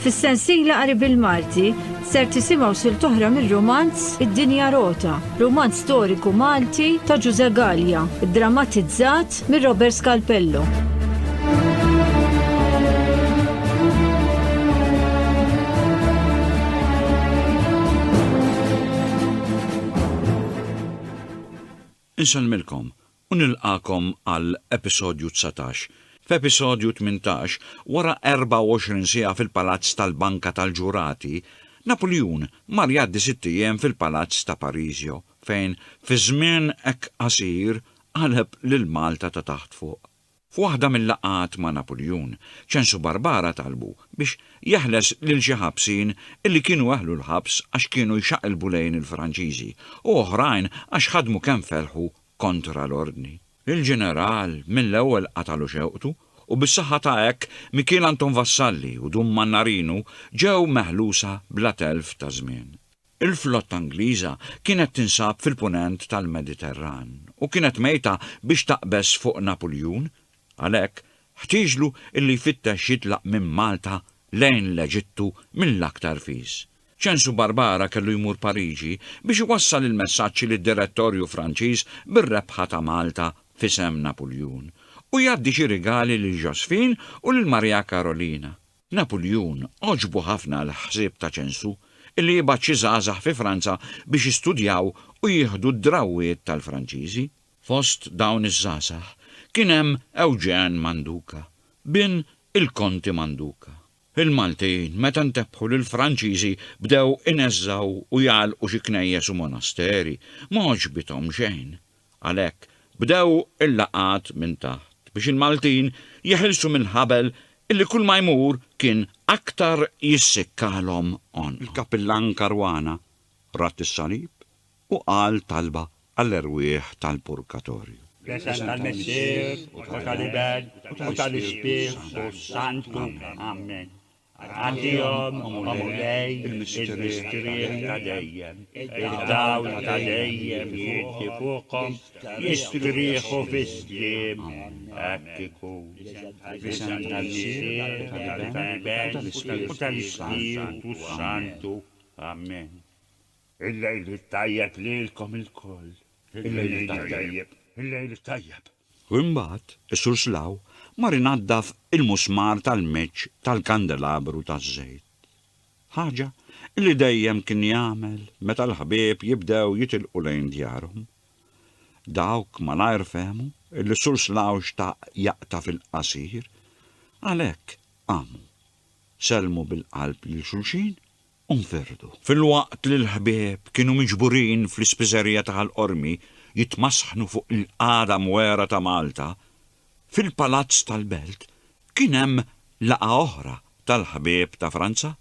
Fis-sensiela qari bil-Malti ser tisimgħu sil toħra mir-romanz Id-Dinja Rota, romanz storiku Malti ta' Ġuże Gallia, drammatizzat mir Robert Scalpello. Insellmilkom u nilqagħkom għal episodju dsatax. F'episodju tmintax, wara 24 siegħa fil-palazz tal-Banka tal-Ġurati, Napuljun mar jgħaddi sitt ijiem fil-palazz ta' Parisio, fejn fi żmien hekk qasir qaleb lil Malta ta' taħt fuq. F'waħda mil-laqgħat ma' Napuljun, Ċenż u Barbara talbu biex jeħles lil xi ħabsin illi kienu eħlu l-ħabs għax kienu jxaqilbu lejn il-Franċiżi u oħrajn għax ħadmu kemm felħu kontra l-Ordni. Il-Ġeneral mill-ewwel qatalu xewqtu u bis-saħħa ta' hekk Mikiel Anton Vassalli u Dun Mannarinu ġew meħlusa bla telf ta' żmien. Il-flotta Ingliża kienet tinsab fil-Punent tal-Mediterran u kienet mejta biex taqbeż fuq Napuljun, għalhekk ħtieġlu illi jfittex jitlaq minn Malta lejn l-Eġittu mill-aktar fis. Ċensu Barbara kellu jmur Pariġi biex iwassal il-messaġġ lid-Direttorju Franċiż bir-rebħa ta' Malta f'isem Napuljun u jgħaddi xi rigali lil Josephine u lil Maria Karolina. Napuljun għoġbu ħafna l-ħsieb ta' Ċensu li jibgħat xi żgħażagħ fi Franza biex jistudjaw u jieħdu d-drawwiet tal-Franċiżi. Fost dawn iż-żgħażagħ kien hemm Eugène Manduca, bin il-Konti Manduca. Il-Maltin meta ntebħu li l-Franċiżi bdew ineżżgħu u jagħlqu xi knejjes u monasteri, ma għoġbithom xejn. Għalhekk, bdew il-laqgħat minn taħt biex il-Maltin jeħilsu mill-ħabel illi kull ma jmur kien aktar jissikkalhom għonqhom. Il-Kappillan Caruana radd is-salib u qal talba għall-erwieħ tal-purgatorju. Fl-isem tal-Missier, u tal-Iben, u tal-Ispirtu s-Santu. Ammen. Agħtihom, O Mulej, il-mistrieħ ta' dejjem, id-dawl ta' dejjem jgħiddi fuqhom, jistrieħu fis-sliem. Hekk ikun. Fl-isem tal-Missier, u tal-Iben, u tal-Ispirtu s-Santu. Amen. Il-lejl it-tajjeb lilkom ilkoll. Il-lejl it-tajjeb. Il-lejl it-tajjeb. U imbagħad is-Sur Slaw mar inaddaf il-musmar tal-meċċ tal-kandelabru taż-żejt. Ħaġa li dejjem kien jagħmel meta l-ħbieb jibdew jitilqu lejn djarhom. Dawk malajr fehmu li s-Sur Slaw xtaq jaqta' fil-qasir, għalhekk qamu, sellmu bil-qalb lil xulxin u nferrdu. Filwaqt li l-ħbieb kienu miġburin fl-Ispiżerija ta' Ħal Qormi jitmasħnu fuq il-qagħda mwegħra ta' Malta, fil-Palazz tal-Belt kien hemm laqgħa oħra tal-ħbieb ta' Franza.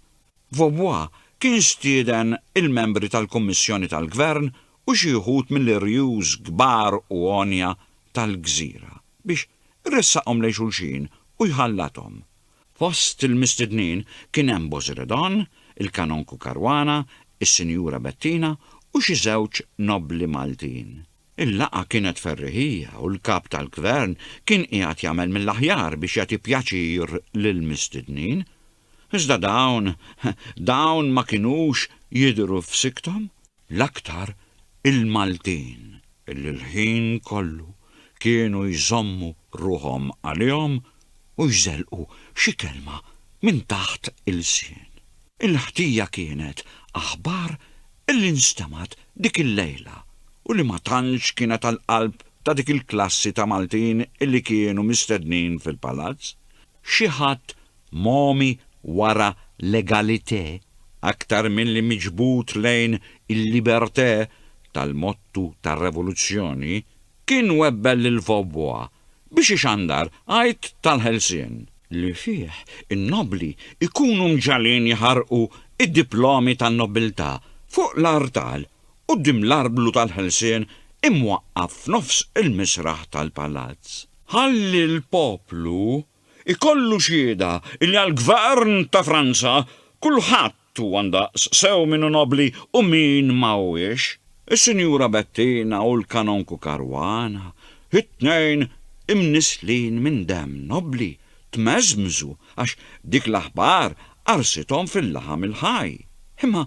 Vaubois kien stieden il-membri tal-Kummissjoni tal-Gvern u xi wħud mill-irjus kbar u għonja tal-gżira biex iressaqhom lejn xulxin u jħallathom. Fost il-mistednin kien hemm Bozredon, il-Kanonku Caruana, is-Sinjura Bettina u xi żewġ nobbli Maltin. Il-laqgħa kienet ferriħija u l-Kap tal-Gvern kien qiegħed jagħmel mill-aħjar biex jagħti pjaċir lill-mistednin. Iżda dawn, dawn ma kinux jidhru f'sikthom. l-aktar il-Maltin li l-ħin kollu kienu jżommu ruħhom għalihom u jżelqu xi kelma minn taħt ilsien. Il-ħtija kienet aħbar li nstemgħet dik il-lejla u li ma tantx kienet għall-qalb ta' dik il-klassi ta' Maltin li kienu mistednin fil-Palazz, Xi ħadd mogħmi wara legalitè aktar milli miġbud lejn il-libertè tal-mottu tar-revoluzzjoni kien webbel lil Vaubois biex ixandar għid tal-ħelsien, li fih in-nobbli jkunu mġagħlin jħarrqu d-diplomi tan-nobbiltà fuq l-artal quddiem l-arblu tal-ħelsien imwaqqaf f'nofs il-misraħ tal-palazz. Ħalli l-poplu jkollu xhieda li għall-Gvern ta' Franza kulħadd huwa ndaqs, sew min hu nobbli u min ma huwiex. Is-Sinjura Bettina u l-Kanonku Caruana, it-tnejn imnisslin minn demm nobbli, tmeżmżu għax dik l-aħbar qarsithom fil-laħam il-ħaj. Imma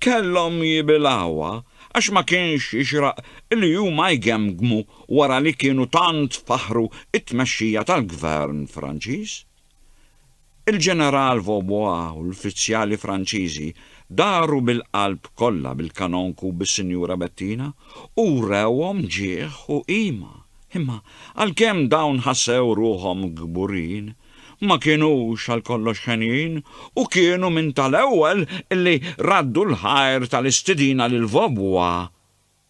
kellhom jibilgħuha għax ma kienx jixraq li huma jgemmgmu wara li kienu tant faħħru t-tmexxija tal-Gvern Franċiż. Il-Ġeneral Vaubois u l-uffiċjali Franċiżi daru bil-qalb kollha bil-Kanonku u bis-Sinjura Bettina u wrewhom ġieħ u qima. Imma għalkemm dawn ħassew ruħhom kburin, ma kinux għal kollox henjin u kienu minn tal-ewwel li raddu l-ħajr tal-istidina lil Vobwa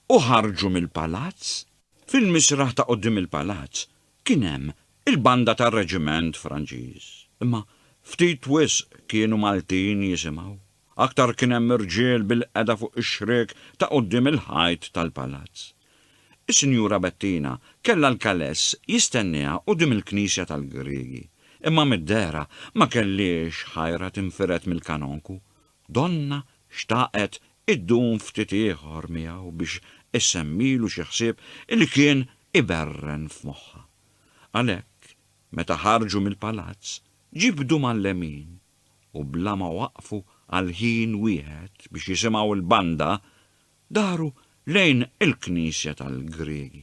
u ħarġu mill-palazz. Fil-misraħ ta' quddiem il-palazz kien hemm il-banda tar-reġiment Franċiż, imma ftit wisq kienu Maltin jisimgħu. Aktar kien hemm irġiel bilqiegħda fuq ix-xriek ta' quddiem il-ħajt tal-palazz. Is-Sinjura Bettina kellha l-kaless jistennieha quddiem il-knisja tal-Griegi, imma mid-dehra ma kellhiex ħajra tinfired mill-kanonku. Donnha xtaqet iddum ftit ieħor miegħu biex issemmilu xi ħsieb li kien iberren f'moħħha. Għalhekk, meta ħarġu mill-palazz, ġibdu mal-lemin. u bla ma waqfu għal ħin wieħed biex jisimgħu l-banda, daru lejn il-knisja tal-Griegi.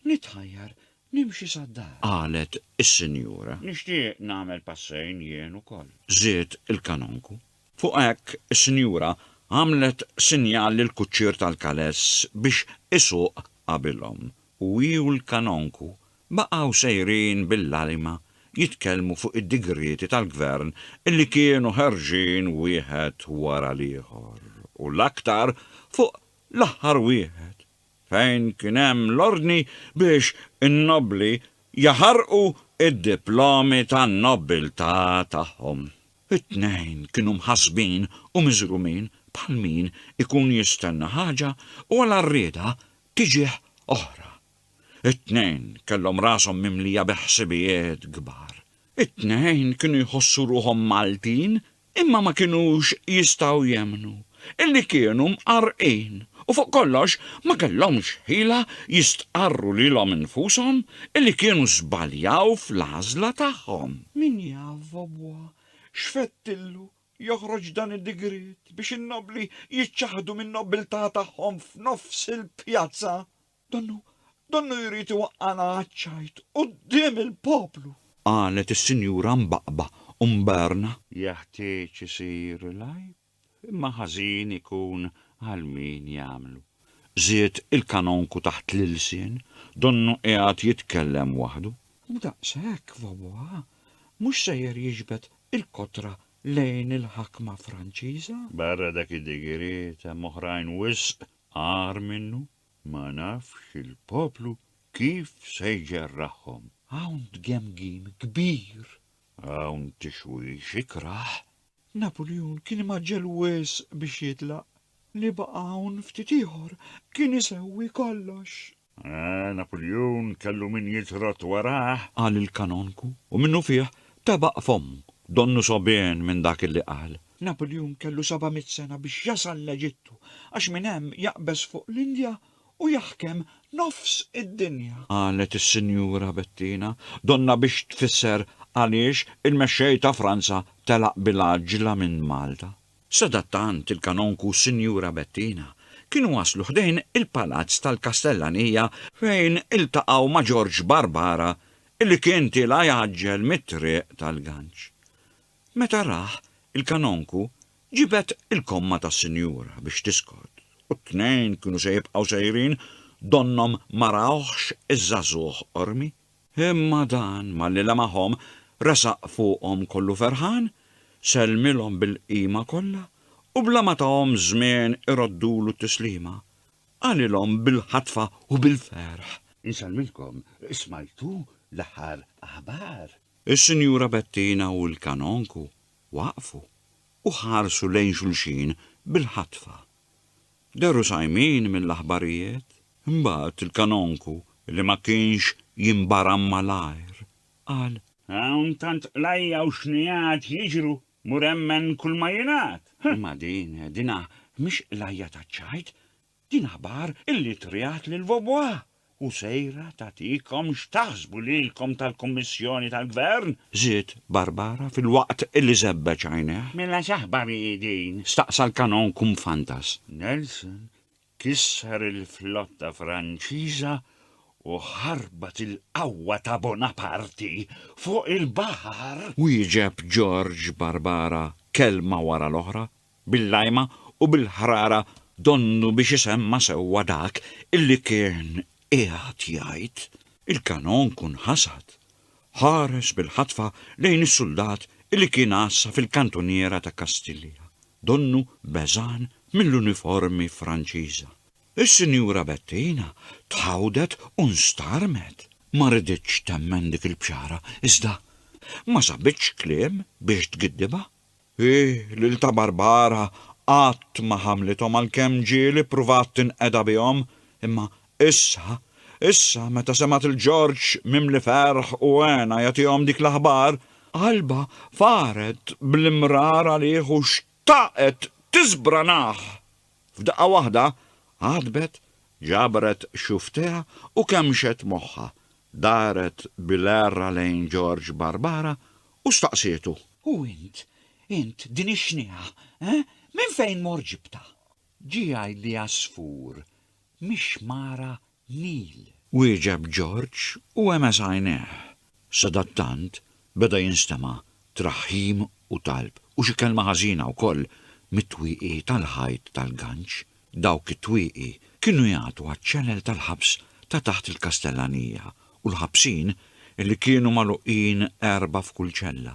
Nitħajjar nimxi sad-dar. Qalet is-sinjura. Nixtieq nagħmel passejn jien ukoll. Żied il-kanonku. Fuq hekk is-sinjura għamlet sinjal lill-kuċċier tal-kaless biex isuq qabilhom u hi u l-kanonku Baqgħu sejrin bil-għalima jitkellmu fuq id-digrieti tal-Gvern li kienu ħerġin wieħed wara l-ieħor u l-aktar fuq l-aħħar wieħed fejn kien hemm l-ordni biex in-nobbli jaħarqu d-diplomi tan-nobbiltà tagħhom. It-tnejn kienu mħassbin u miżrumin bħal min ikun jistenna ħaġa u għal għarrieda tiġih oħra. It-tnejn kellhom rashom mimlija bi ħsibijiet kbar. It-tnejn kienu jħossu ruħhom Maltin imma ma kinux jistgħu jemmnu illi kienu mqarrqin u fuq kollox ma kellhomx ħila jistqarru lilhom infushom illi kienu żbaljaw fl-għażla tagħhom. Min jaf, Vobwa, x'fettillu joħroġ dan id-digriet biex in-nobbli jiċċaħħdu min-nobbiltà tagħhom f'nofs il-pjazza? Donnu, donnu jrid iwaqqagħna għaċ-ċajt quddiem il-poplu! Qalet is-Sinjura Mbaqba u Mberna. Jeħtieġ isir il-għajb, imma ħażin ikun għal min jagħmlu! żied il-Kanonku taħt l-ilsien, donnu qiegħed jitkellem waħdu. U daqshekk vvabbuha, mhux sejjer jiġbed il-kotra lejn il-ħakma Franċiża? Barra dak id-digriet hemm oħrajn wisq agħar minnu. Ma nafx il-poplu kif se jġerrahhom. Hawn tgemgim kbir. Hawn tixwix ikrah. Napuljun kien imgħaġġel wisq biex jitlaq. Li baqa' hawn ftit ieħor kien isewwi kollox. Ah, Napuljun kellu min jitrott warah! Qal il-Kanonku u minnufih tebaq fommu, donnu sogħbien minn dak li qal. Napuljun kellu seba' mitt sena biex jasal l-Eġittu għax minn hemm jaqbeż fuq l-Indja u jaħkem nofs id-dinja. Qalet is-Sinjura Bettina, donnha biex tfisser għaliex il-mexxej ta' Franza telaq bil-għaġġla minn Malta. Sadattant il-Kanonku u s-Sinjura Bettina kienu waslu ħdejn il-palazz tal-Kastellanija fejn iltaqgħu ma' Ġorġ Barbara li kien tilgħa jgħaġġel mit-Triq tal-Ganġ. Meta rah, il-kanonku ġibed il-komma tas-sinjura biex tiskot, u t-tnejn kienu se jibqgħu sejrin donnhom ma rawhx iż-żagħżugħ qormi. Imma dan, malli lemahom, resaq fuqhom kollu ferħan, sellmilhom bil-qima kollha, u bla ma tahom żmien iroddulu t-tislima, qalilhom bil-ħatfa u bil-ferħ. Insellmilkom, smajtu l-aħħar aħbar? Is-Sinjura Bettina u l-Kanonku waqfu u ħarsu lejn xulxin bil-ħatfa. Dehru sajmin mill-aħbarijiet. Imbagħad il-Kanonku, li ma kienx jinbaram malajr, qal. Hawn tant qlajja u xnigħat jiġru, mur emmen kulma jingħad. Imma din, dinha mhix qlajja taċ-ċajt, Din aħbar illi triat lil Vaubois u sejra tagħtikom x'taħsbu lilkom tal-Kummissjoni tal-Gvern? żied Barbara filwaqt illi żebbeġ għajnejh. Mela x'aħbar hi din? staqsa l-Canon Kumfantas. Nelson kisser il-flotta Franċiża u ħarbat il-qawwa ta' Bonaparti fuq il-baħar! wieġeb George Barbara kelma wara l-oħra bil-lajma u bil-ħrara donnu biex isemma' sewwa dak illi kien qiegħed jgħid. Il-kanon kun ħasad. Ħares bil-ħatfa lejn is-suldat illi kien għassa fil-kantuniera ta' Kastilja, donnu beżgħan mill-uniformi Franċiża. Is-Sinjura Bettina tħawdet u nstarmet. Ma riditx temmen dik il-bxara, iżda ma sabitx kliem biex tgiddibha. Hi, lil ta' Barbara, qatt ma ħamlithom għalkemm ġieli ppruvat tinqeda bihom, imma issa, issa meta semgħet lil Ġorġ mimli ferħ u hena jagħtihom dik l-aħbar, qalbha faret bl-imrar għalih u xtaqet tiżbranah! F'daqqa waħda, għadbet, ġabret xufftejha u kemxet moħħha. Daret bil-għerra lejn George Barbara u staqsietu. U int, int, din ix-xniegħa, eh? Minn fejn mort ġibtha? Ġie jgħidli għasfur, mix-xmara Nil. Wieġeb George u għemeż għajnejh. Sadattant beda jinstema' traħħim u talb u xi kelma ħażina wkoll mit-twieqi tal-ħajt tal-ganċ Dawk it-twieqi kienu jagħtu għaċ-ċenel tal-ħabs ta' taħt il-Kastellanija u l-ħabsin, li kienu magħluqin erbgħa f'kull ċella,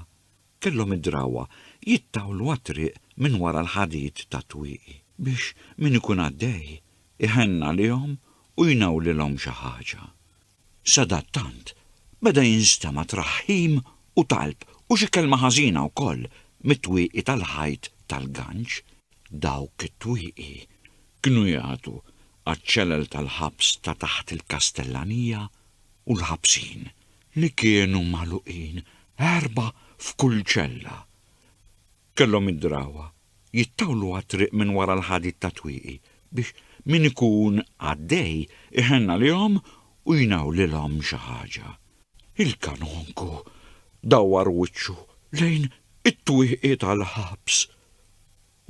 kellhom id-drawwa jittawlu għat-triq minn wara l-ħadid tat-twieqi biex min ikun għaddej iħenn għalihom u jnawlilhom xi ħaġa. Sadattant, beda jinstema' traħħim u talb u xi kelma ħażina wkoll mit-twieqi tal-ħajt tal-ganċ. Dawk it-twieqi kienu jagħtu għaċ-ċelel tal-ħabs ta' taħt il-Kastellanija u l-ħabsin, li kienu magħluqin erbgħa f'kull ċella. Kellhom id-drawwa jittawlu għat-triq minn wara l-ħadid tat-twieqi biex min ikun għaddej iħenn għalihom u jnawlilhom xi ħaġa. Il-Kanonku dawwar wiċċu lejn it-twieqi tal-ħabs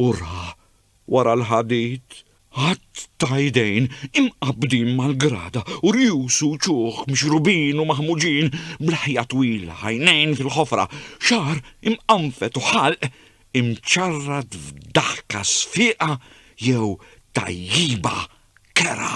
u ra Wara l-ħadid, għadd ta' idejn imqabbdin mal-grada u rjus u uċuħ mixrubin u maħmuġin, b'leħja twila, għajnejn fil-ħofra, xagħar imqanfet u ħalq imċarrat f'daħka sfieqa jew tajjiba kerha.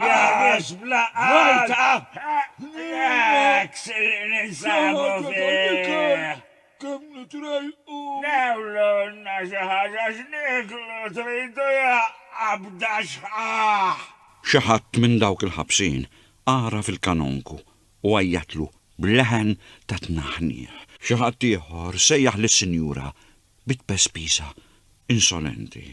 Jagħmel vojta hekk se ninsabu fih. Newlulna xi ħaġa x'nieklu tridu ja qabda xħaħ. Xi ħadd minn dawk il-ħabsin għaraf il-Kanonku u għajjatlu b'leħen ta' tnaħniħ. Xi ħadd ieħor sejjaħ lis-sinjura bi tpespiża insolenti.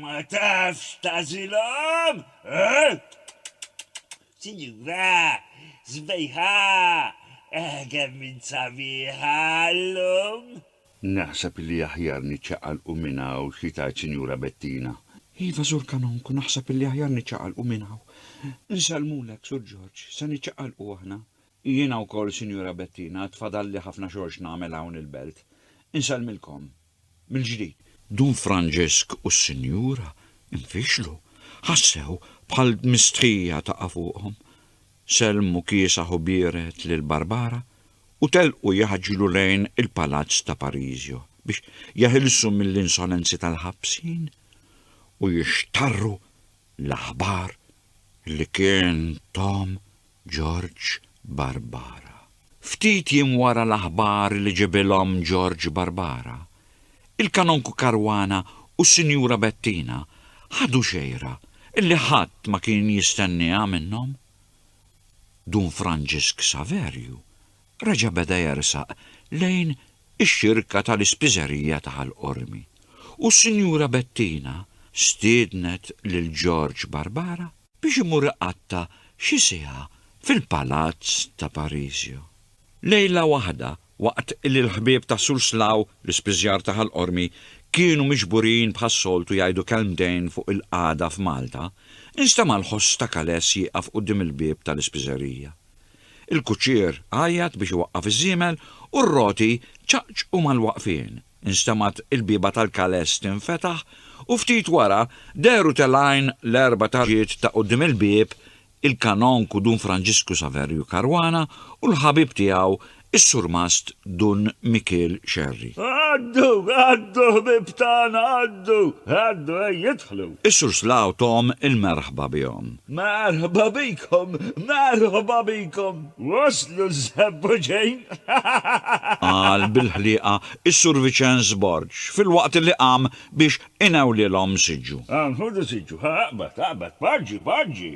Ma tafx tagħżilhom? Sinjura sbejħa, kemm int sabiħa llum! Naħseb li aħjar niċċaqalqu minn hawn, xi tgħid Sinjura Bettina? Iva, Sur Kanonku, naħseb li aħjar niċċaqalqu minn hawn. Insellmulek, Sur Ġorġ, se niċċaqalqu aħna. Jiena wkoll, Sinjura Bettina, għad fadalli ħafna xogħol x'nagħmel hawn il-belt. Insellmilkom. Mill-ġdid. Dun Franġisk u s-Sinjura nfixlu. Ħassew bħal dmistħija taqa' fuqhom. Sellmu kiesaħ u bierred lil Barbara u telqu jaħġlu lejn il-palazz ta' Parisio biex jeħilsu mill-insolenzi tal-ħabsin u jixtarru l-aħbar li kien Tom Ġorġ Barbara. Ftit jiem wara l-aħbar li ġibilhom Ġorġ Barbara, il-Kanonku Caruana u s-Sinjura Bettina ħadu xejra li ħadd ma kien jistennieha minnhom. Dun Franġisk Saverju reġa' beda jersaq lejn ix-xirka tal-ispiżerija ta' Ħal Qormi u s-Sinjura Bettina stiednet lil George Barbara biex imur iqatta' xi siegħa fil-palazz ta' Parisio. Lejla waħda, waqt li l-ħbieb ta' Surslaw, l-ispiżjar ta' Ħal Qormi, kienu miġburin bħas-soltu jgħidu kelmtejn fuq il-qagħda f'Malta, instema' l-ħoss ta' Kales jieqaf quddiem il-bieb tal-ispiżerija. Il-kuċċier għajjat biex iwaqqaf iż-żiemel u r-roti ċaqċqu mal-waqfien. Instemgħet il-bieba tal-kales tinfetaħ u ftit wara dehru telgħin l-erba' tarġiet ta' quddiem il-bieb, il-Kanonku Dun Franġisku Saverju Caruana u l-ħabib tiegħu Is-Surmast Dun Mikiel Scerri. Għaddu, għaddu ħbieb tagħna għaddu, għaddu ejja idħlu. Is-Surslaw Tom il-merħba bihom. Merħba bikom, merħba bikom. Waslu Żepp u Ġejn. Qal bil-ħlieqa is-Surviċenz Borg filwaqt li qam biex inewlilhom siġġu. Hawn ħudu siġġu, aqbad, aqbad, poġġi, poġġi.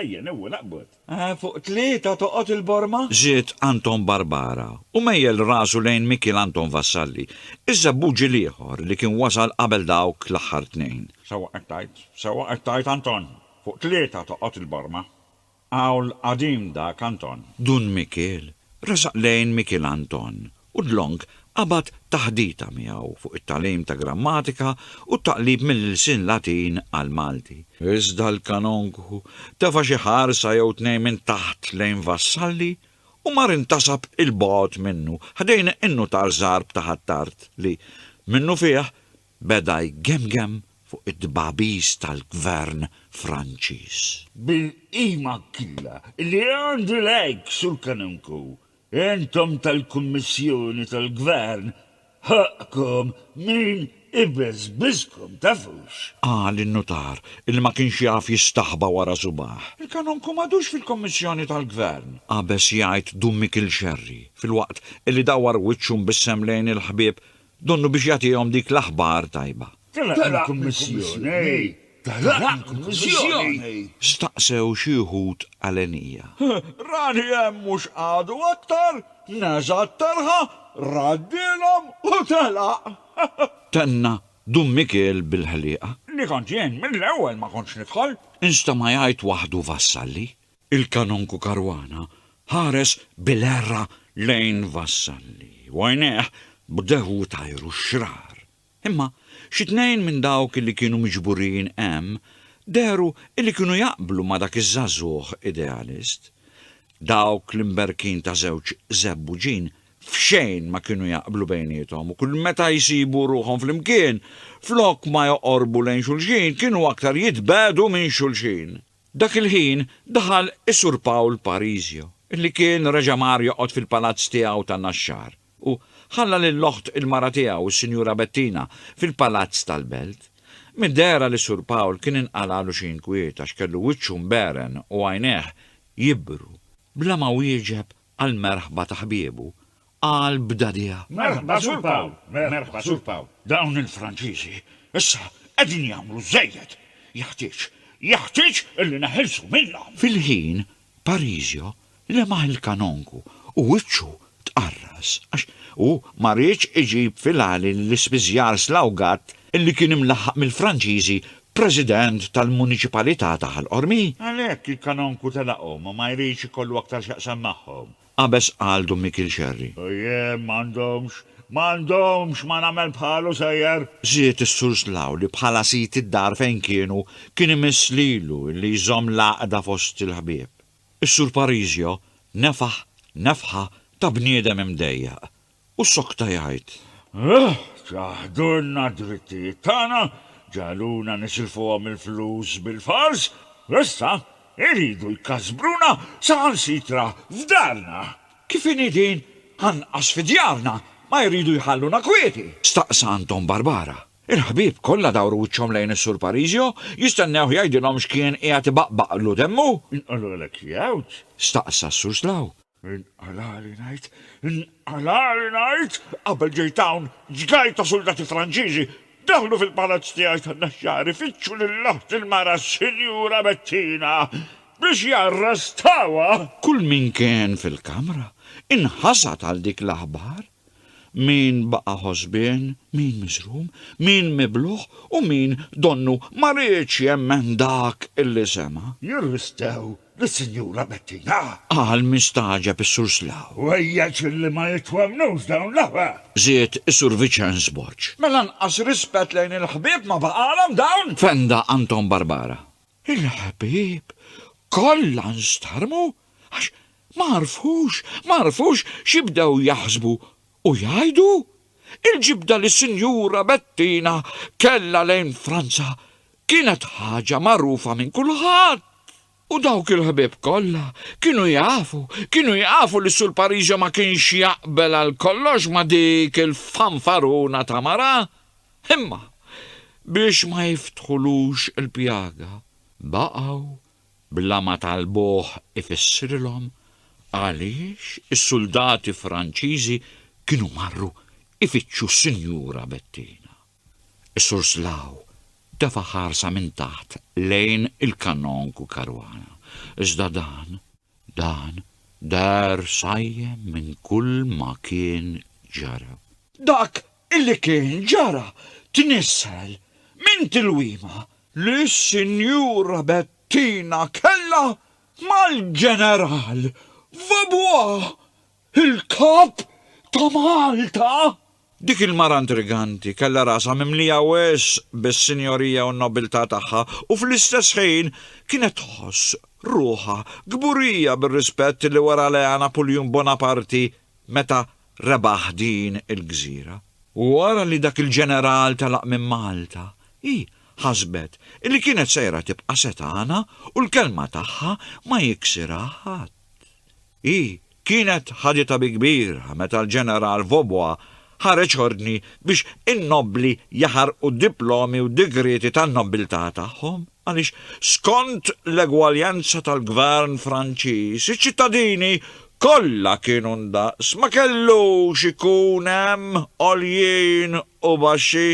Ejja newwel aqbad. Eħe, fuq tlieta toqgħod il-borma? Żied Anton Barbara u mejjel rasu lejn Mikiel Anton Vassalli, iż-żebbuġi l-ieħor li kien wasal qabel dawk l-aħħar tnejn. Sewwa qed tgħid, sewwa qed tgħid Anton, fuq tlieta toqgħod il-borma. Qawl qadim dak Anton. Dun Mikiel resaq lejn Mikiel Anton u Dlong qabad taħdita miegħu fuq it-tagħlim ta' grammatika u t-taqlib mill-ilsien Latin għall-Malti. Iżda l-kanonku tefa' xi ħarsa jew tnejn minn taħt lejn Vassalli u mar intasab 'il bogħod minnu, ħdejn in-nutar żgħar b'ta' Ħ'Attard li, minnufih, beda jgemgem fuq id-dbagħbis tal-Gvern Franċiż. Bil-qima killa li għandu lejk, Sur Kanonku, Intom tal-Kummissjoni tal-Gvern ħoqqkom min ibeżbiżkom, tafux? Qal in-nutar, illi ma kienx jaf jistaħba wara subagħ. Il-kanonku m'għadux fil-Kummissjoni tal-Gvern! Qabeż jgħid Dun Mikiel Scerri, filwaqt illi dawwar wiċċu mbissem lejn il-ħbieb Donnu biex jagħtihom dik l-aħbar tajba. Telaqni l-Kummissjoni? Telaqni l-Kummissjoni? Staqsew xi wħud għalenija. Rani hemm mhux qagħdu aktar, neża' t-telħa, raddilhom u telaq. Tenna Dun Mikiel bil-ħliqa. Li kont jien mill-ewwel ma kontx nidħol. Instema' jgħid waħdu Vassalli. Il-Kanonku Caruana ħares bil-għerra lejn Vassalli u għajnejh bdew itajru x-xrar. Imma xi tnejn minn dawk li kienu miġburin hemm dehru li kienu jaqblu ma' dak iż-żagħżugħ idealist. Dawk l-imberkin ta' żewġ żebbuġin f'xejn ma kienu jaqblu bejniethom u kull meta jsibu ruħhom flimkien, flok ma joqorbu lejn xulxin kienu aktar jitbegħdu minn xulxin. Dak il-ħin daħal is-Sur Pawl Parisio, li kien reġa' mar joqgħod fil-palazz tiegħu ta' Naxxar u ħalla lill-oħt il-mara tiegħu, is-Sinjura Bettina, fil-palazz tal-Belt. Mid-dehra li s-Sur Pawl kien inqalagħlu xi inkwiet għax kellu wiċċu mbegħren u għajnejh jibru, bla ma wieġeb għall-merħba ta' ħbiebu, qal b'dagħdigħa. Merħba Sur Pawl! Merħba Sur Pawl! Dawn il-Franċiżi issa qegħdin jagħmlu żejjed! Jeħtieġ, jeħtieġ illi neħilsu minnhom! Fil-ħin, Parisio lemaħ il-kanonku u wiċċu tqarras għax hu ma riedx iġib fil-għali lill-ispiżjar slawgat li kien imlaħħaq mill-Franċiżi President tal-Muniċipalità ta' Ħal Qormi. Għalhekk il-Kanonku telaqhom u ma jridx ikollu aktar x'jaqsam magħhom. Qabeż qal Dun Mikiel Xerri. Ojje, m'għandhomx, m'għandhomx, ma nagħmel bħalu sejjer! Żied is-Sur Slaw li bħala sid id-dar fejn kienu kien imiss lilu li jżomm l-għaqda fost il-ħbieb. Is-Sur Parisio nefaħ nefħa ta' bniedem imdejjaq U sokta jgħid, Huh! Ċaħdulna d-drittijiet tagħna, ġagħluna nisilfuhom il-flus bil-fors, u issa jridu jkasbruna saħansitra f'darna! Kif inhi din, anqas fi djarna ma jridu jħalluna kwieti! Staqsa Anton Barbara. Il-ħbieb kollha dawru wiċċhom lejn is-Sur Parisio, jistennewh jgħidilhom x'kien qiegħed ibaqbaqlu demmu. Inqolulek jgħawġ? Staqsa s-Sur Slaw. Inqalagħli ngħid, inqalagħli ngħid, qabel ġejt hawn, ġgajr ta' suldati Franċiżi daħlu fil-palazz tiegħi tan-Naxxar ifittxu lil aħti l-mara s-Sinjura Bettina biex jarrestawha! Kull min kien fil-kamra inħasad għal dik l-aħbar. Min baqa' ħosbien, min miżrum, min miblugħ u min donnu ma riedx jemmen dak li sema'. Jirristew lis-Sinjura Bettina! Qal mistagħġeb is-Sur Slaw. U ejjeċ li ma jitwemmnux dawn l-aħwa! Żied is-Sur Viċenz Borg. Mela anqas rispett lejn il-ħbieb ma baqalhom dawn! Fenda Anton Barbara. Il-ħbieb kollha nstarmu għax ma għarfux, ma għarfux xi bdew jaħsbu u jgħidu. Il-ġibda li Sinjura Bettina kellha lejn Franza kienet ħaġa magħrufa minn kulħadd. U dawk il-ħbieb kollha kienu jafu, kienu jafu li Sur Pariġa ma kienx jaqbel għal kollox ma' dik il-fanfaruna ta' mara. Imma biex ma jiftħulux il-pjaga, baqgħu bla ma talbuh ifissrilhom għaliex is-suldati Franċiżi kienu marru jfittxu s-Sinjura Bettina. Is-Sur Slaw tefa' ħarsa minn taħt lejn il-Kanonku Caruana, iżda dan, Dan dar sajjem minn kull ma kien ġara. Dak li kien ġara tnissel minn tilwima li s-Sinjura Bettina kellha mal-Ġeneral Vaubois Il-Kap ta' Malta? Dik il-mara intriganti kellha rasha mimlija wisq bis-sinjorija u n-nobiltà tagħha u fl-istess ħin kienet tħoss ruħha kburija bir-rispett li wera lejha Napuljun Bonaparti meta rebaħ din il-gżira. Wara li dak il-ġeneral telaq minn Malta, hi ħasbet li kienet sejra tibqa' setgħana u l-kelma tagħha ma jiksirha ħadd. Hi kienet ħaditha bi kbira meta l-Ġeneral Vaubois ħareġ ordni biex in-nobbli jaħarqu diplomi u digrieti tan-nobbiltà tagħhom għaliex skont l-egwaljanza tal-Gvern Franċiż iċ-ċittadini kollha kienu ndaqs ma kellux ikun hemm għoljin u baxxi.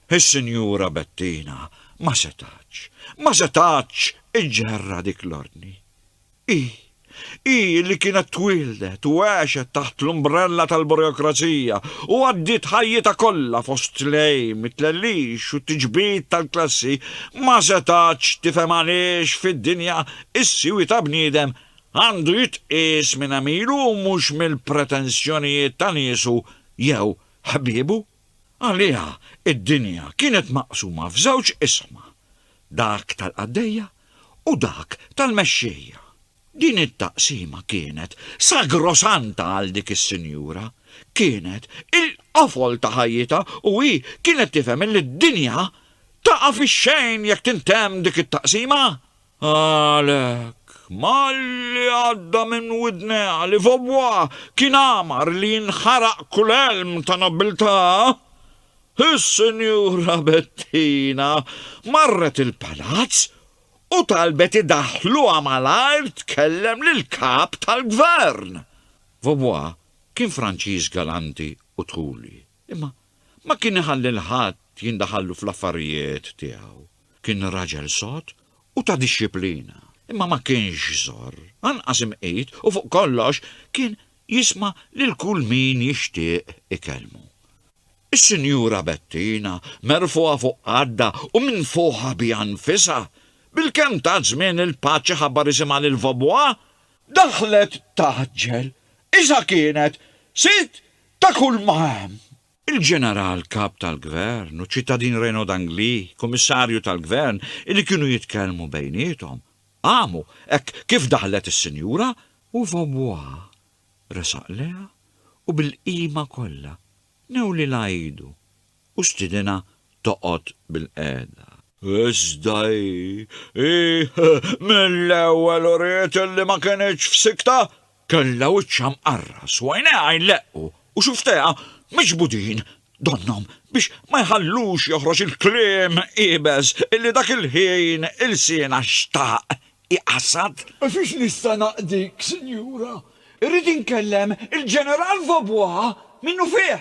Is-Sinjura Bettina ma setgħetx, ma setgħetx iġġerrha dik l-ordni. Hi, hi li kienet twieldet u għexet taħt l-umbrella tal-burokrazija u għaddiet ħajjitha kollha fost l-għejm, it-tlellix u t-tiġbid tal-klassi, ma setgħatx tifhem għaliex fid-dinja s-siwi ta' bniedem għandu jitqies minn għemilu u mhux mill-pretensjonijiet ta' niesu jew ħbiebu. Għaliha d-dinja kienet maqsuma f'żewġ isma, dak tal-qaddejja u dak tal-mexxejja. Din it-taqsima kienet sagrosanta għal dik is-sinjura, kienet il-qofol ta' ħajjitha u hi kienet tifhem illi d-dinja taqa' fix-xejn jekk tintemm dik it-taqsima. Għalhekk, malli għadda minn widnejha li Vaubois kien għamar li jinħaraq kull għelm ta' nobbiltà, is-Sinjura Bettina marret il-Palazz u talbet idaħħluha malajr tkellem lill-Kap tal-Gvern. Vaubois kien Franċiż galanti u tħuli, imma ma kien iħalli 'l ħadd jindaħallu fl-affarijiet tiegħu. Kien raġel sod u ta' dixxiplina, imma ma kienx żorr, anqas imqit u fuq kollox kien jisma' lil kull min jixtieq ikellmu. Is-Sinjura Bettina, merfugħa fuq qaddha u minfuħa biha nfisha, bilkemm tat żmien lil Patch iħabbar isimha lil Vaubois, daħlet tgħaġġel, iżda kienet sid ta' kulma hemm il-Ġeneral Kap tal-Gvern u ċ-Ċittadin Renaud Angli, Kummissarju tal-Gvern, illi kienu jitkellmu bejniethom, qamu hekk kif daħlet is-sinjura, u Vaubois resaq lejha u bil-qima kollha newlilha idu u stiedinha toqgħod bilqiegħda. Iżda hi, hi mill-ewwel uriet illi ma kinitx f'sikta Kellha wiċċha mqarras u għajnejha jleqqu u xufftejha miġbudin donnhom biex ma jħallux joħroġ il-kliem iebes li dak il-ħin ilsienha xtaq iqasad. Fiex nista' naqdik, Sinjura? Irrid inkellem il-Ġeneral Vaubois minnufih!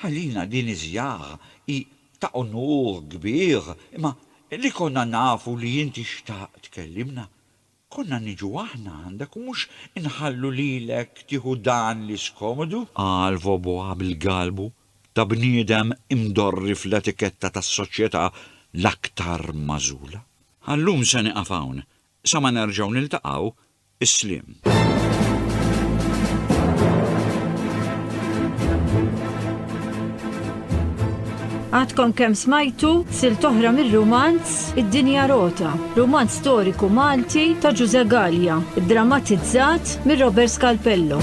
Għalina din iż-żjara hi ta' unur kbir, imma li konna nafu li inti xtaqt tkellimna, konna niġu aħna għandek u mhux inħallu lilek tieħu dan l-iskomodu, qal Foboa bil-galbu ta' bniedem imdorri fl-etiketta tas-soċjetà l-aktar magħżula. Għal-lum se nieqaf hawn, sa ma nerġgħu niltaqgħu, is-sliem. Għadkom kemm smajtu sil toħra mir-rumanz Id-Dinja Rota, rumanz storiku Malti ta' Ġuże Gallia, drammatizzat mir Robert Scalpello.